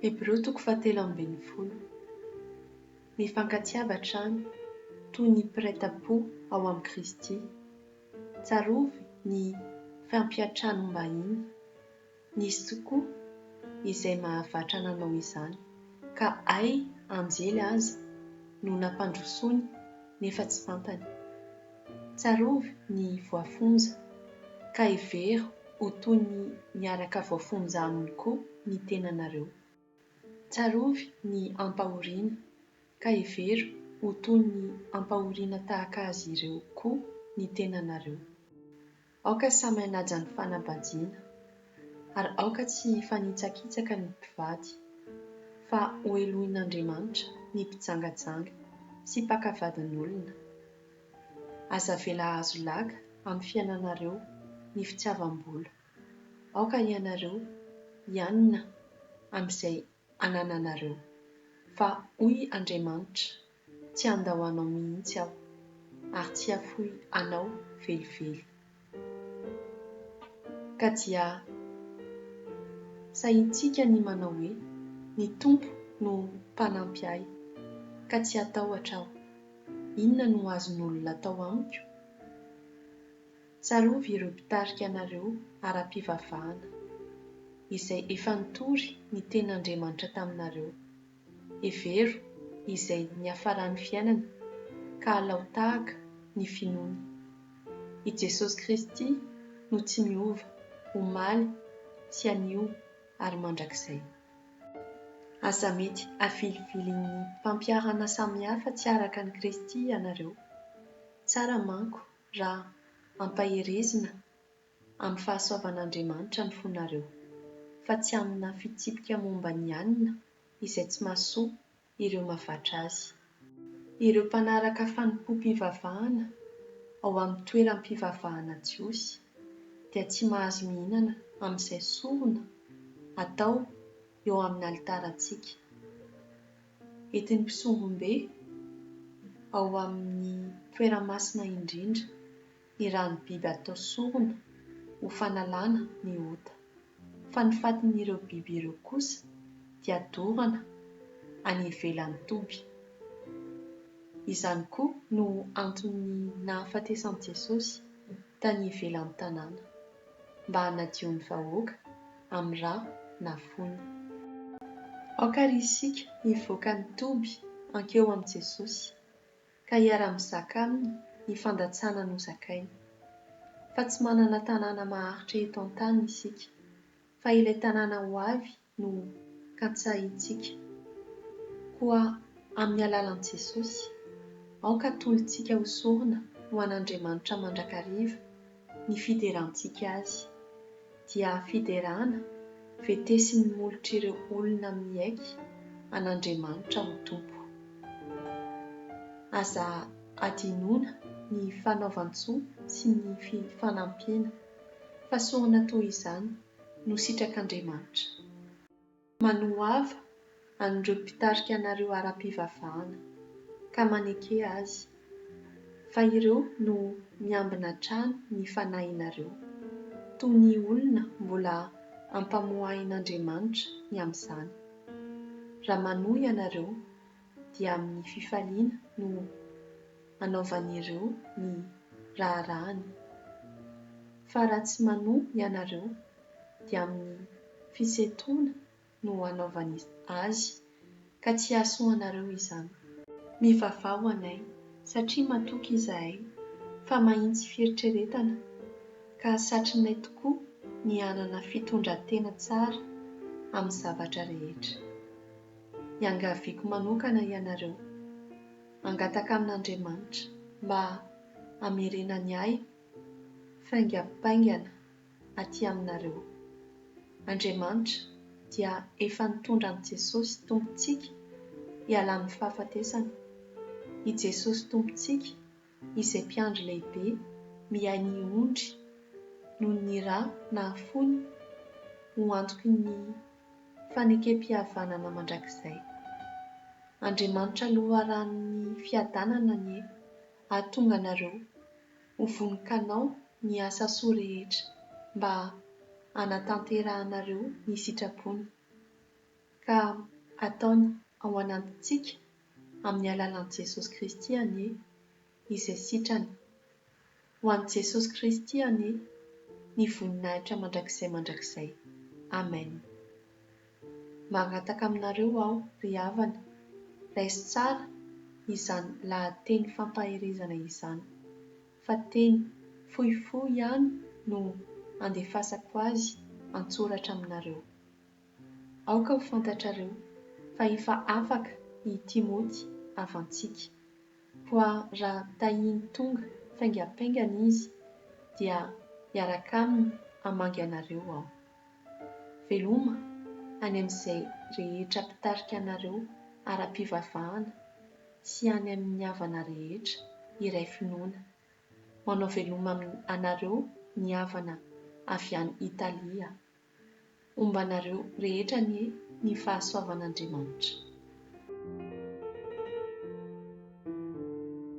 Hebreo toko fahatelo ambin'ny folo. Mifankatiava hatrany, toy ny mpiray tam-po ao amin'i Kristy. Tsarovy ny fampiantranombahiny, Nisy tokoa izay mahavatra nanao izany, ka hay anjely aza no nampandrosoany nefa tsy fantany. Tsarovy ny voafonja, ka hevero ho toy ny miaraka voafonja aminy koa ny tenanareo. Tsarovy ny ampahoriana, ka hevero ho toy ny ampahoriana tahaka azy ireo koa ny tenanareo. Aoka samy hanaja ny fanambadiana, ary aoka tsy hifanitsakitsaka ny mpivady, fa hohelohin'Andriamanitra ny mpijangajanga sy mpaka vadin'olona. Aza avela hahazo laga amin'ny fiainanareo ny fitiavam-bola. Aoka ianareo hianina amin'izay anananareo, fa hoy Andriamanitra. Tsy handao anao mihitsy aho, ary tsy hafoy anao velively. Ka dia sahintsika ny manao hoe, Ny Tompo no mpanampy ahy, ka tsy hatahotra aho. Inona no azon'olona atao amiko? Tsarovy ireo mpitarika anareo ara-pivavahana, izay efa nitory ny tenin'Andriamanitra taminareo. Hevero izay niafaran'ny fiainany ka alao tahaka ny finoany. I Jesosy Kristy no tsy miova omaly sy anio ary mandrakizay. Aza mety avilivilin'ny mpampiharana samihafa tsy araka an'i Kristy ianareo. Tsara manko raha ampaherezina amin'ny fahasoavan'Andriamanitra ny fonareo, fa tsy amina fitsipika momba ny anona izay tsy mahasoa ireo mavatra azy. Ireo mpanaraka fanompoam-pivavahana ao amin'ny toeram-pivavahana jiosy dia tsy mahazo mihinana amin'izay sorona atao eo amin'ny alitarantsika, entin'ny mpisombom-be ao amin'ny Toera Masina Indrindra. ny rano biby atao sorona ho fanalana ny ota, fa ny fatin'ireo biby ireo kosa dia dorana any ivelan'ny toby. Izany koa no anton'ny nahafatesan'i Jesosy tany ivelan'ny tanàna, mba hanadio ny vahoaka amin'ny ra na fony. Aoka àry isika hivoaka ny toby hankeo amin'i Jesosy, ka hiara-mizaka aminy ny fandatsana nozakainy. Fa tsy manana tanàna maharitra eto an-tany isika, fa ilay tanàna ho avy no katsahintsika. Koa amin'ny alalan'i Jesosy, aoka atolotsika ho sorona ho an'Andriamanitra mandrakariva ny fiderantsika azy. Dia fiderana vetesin'ny molotr'ireo olona miaiky an'Andriamanitra ho Tompo. Aza adinoina ny fanaovan-tsoa sy ny fifanampiana. Fahasoana toy izany no sitrak'Andriamanitra. Manohava an'ireo mpitarika anareo ara-pivavahana, ka maneke azy, fa ireo no miambina hatrany ny fanahinareo, toy ny olona mbola ampamoahin'Andriamanitra ny amin'izany. Raha manohy ianareo, dia amin'ny fifaliana no anaovan'ireo ny raharahany, fa raha tsy manohy ianareo, dia amin'ny fisetroana no anaovany azy, ka tsy hahasoanareo izany. Mivavaha ho anay, satria matoky izahay fa mahitsy fieritreretana, ka satrinay tokoa ny hanana fitondran-tena tsara amin'ny zavatra rehetra. Iangaviako manokana ianareo, hangataka amin'Andriamanitra mba hamerenany ahy faingam-paingana aty aminareo. Andriamanitra dia efa nitondra an'i Jesosy Tompontsika hiala amin'ny fahafatesana. I Jesosy Tompontsika izay Mpiandry Lehibe miahy ny ondry noho ny ra nahafoiny ho antoky ny fanekempihavanana mandrakizay. Andriamanitra Loharanon'ny fiadanana anie hahatonga anareo Ho vonon-kanao ny asa soa rehetra mba hanatanterahanareo ny sitrapony, ka ataony ao anatintsika amin'ny alalan'i Jesosy Kristy anie izay sitrany. Ho an'i Jesosy Kristy anie ny voninahitra mandrakizay mandrakizay. Amen. Mangataka aminareo aho, ry havana, raiso tsara izany lahateny fampaherezana izany, fa teny fohifohy ihany no andefasako azy an-tsoratra aminareo. Aoka ho fantatrareo fa efa afaka i Timoty havantsika, koa raha tahiany tonga faingampaingana izy, dia hiaraka aminy hamangy anareo aho. Veloma any amin'izay rehetra mpitarika anareo ara-pivavahana sy any amin'ny havana rehetra iray finoana. Manao veloma anareo ny havana avy any Italia. Homba anareo rehetra anie ny fahasoavan'Andriamanitra.